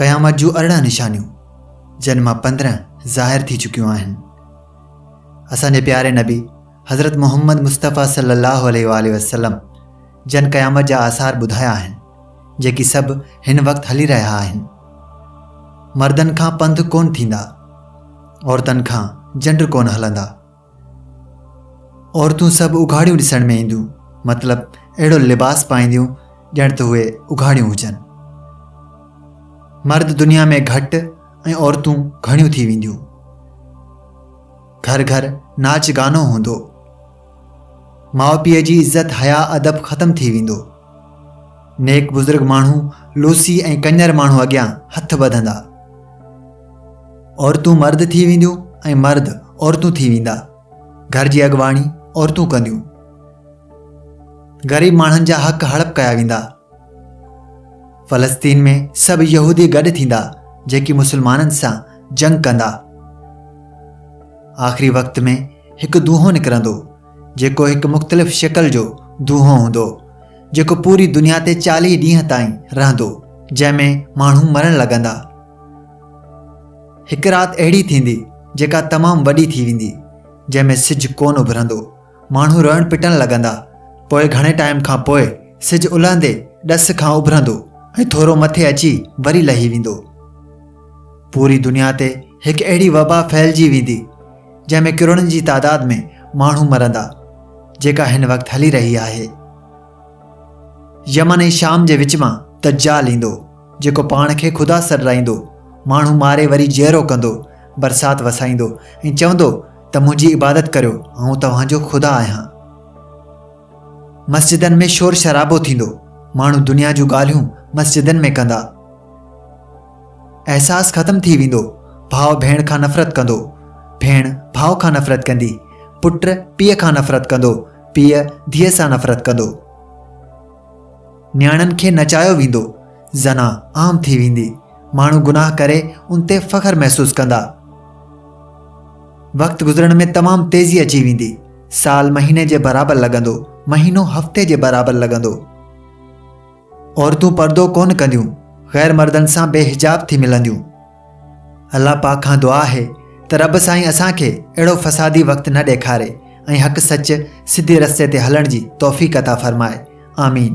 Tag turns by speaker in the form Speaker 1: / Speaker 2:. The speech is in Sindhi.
Speaker 1: قيامت جون ارڙهن نشانيون جن مان پندرهن ظاهر ٿي چڪيون آهن اسان جي پياري نبي حضرت محمد مصطفيٰ صلي الله عليه وآله وسلم جن قيامت جا آثار ٻڌايا آهن جيڪي سڀ هن وقت هلي رهيا آهن مردن کان پنڌ ڪون ٿيندا عورتن کان جنڊ ڪونه هلندا. عورتون سڀ اگهاڙيون ڏسڻ ۾ اينديون مطلب اهڙو لباس پائينديون ڄڻ ته اهي اگهاڙيون هجن. مرد دنيا ۾ گهٽ ۽ عورتون گهڻيون ٿي وينديون. گهر گهر ناچ گانو هوندو. ماء پيء جي عزت حيا ادب ختم ٿي ويندو. نيڪ بزرگ ماڻهو لوسي ۽ ڪڃر ماڻهو اڳيان هٿ ٻڌندا. عورتون مرد ٿي وينديون ۽ مرد عورتون ٿي ويندا. گهر جي اڳواڻي عورتون ڪنديون. غريب ماڻهن جا حق هڙپ ڪيا ويندا. فلسطين ۾ سڀ يهودي گڏ ٿيندا جيڪي مسلمانن سان جنگ ڪندا آخري وقت ۾ هڪ دونهون نڪرندو جيڪو هڪ مختلف شڪل جو دونهون هوندو جيڪو پوري دنيا تي چاليهه ڏينهن تائين رهندو جنهن ۾ ماڻهو مرڻ لڳندا هڪ رات اهڙي ٿيندي جيڪا تمام وڏي ٿي ويندي جنهن ۾ سج ڪون اڀرندو ماڻهو روئڻ پٽڻ لڳندا. پوء گهڻي ٽائيم کان پوء سج الهندي ڏس کان اڀرندو ۽ ٿورو مٿي اچي وري لهي ويندو. پوري دنيا تي هڪ اهڙي وبا ڦهلجي ويندي، جنهن ۾ ڪروڙن جي تعداد ۾ ماڻهو مرندا، جيڪا هن وقت هلي رهي آهي. يمن ۽ شام جي وچ مان دجال ايندو، جيڪو پاڻ کي خدا سڏرائيندو، ماڻهو ماري وري جيئرو ڪندو، برسات وسائيندو ۽ چوندو، ته منهنجي عبادت ڪريو آئون توهان جو خدا آهيان. مسجدن ۾ شور شرابو ٿيندو، ماڻهو دنيا جون ڳالهيون مسجدن ۾ ڪندا. احساس ختم ٿي ويندو، ڀاء ڀيڻ کان نفرت ڪندو، ڀيڻ ڀاء کان نفرت ڪندي، پٽ پيء کان نفرت ڪندو، پيء ڌيء سان نفرت ڪندو. نياڻين کي نچايو ويندو، زنا عام ٿي ويندي، ماڻهو گناهه ڪري ان تي فخر محسوس ڪندا. وقت گذرڻ ۾ تمام تيزي اچي ويندي، سال مهيني جي برابر لڳندو، مهينو هفتي جي برابر لڳندو. عورتون پردو ڪونه ڪنديون، غير مردن سان بي حجاب ٿي ملنديون. الله پاڪ کان دعا آهي ته رب سائين اسان کي اهڙو فسادي وقت نه ڏيکاري ۽ حق سچ سڌي رستي تي هلڻ جي توفيق عطا فرمائي آمين.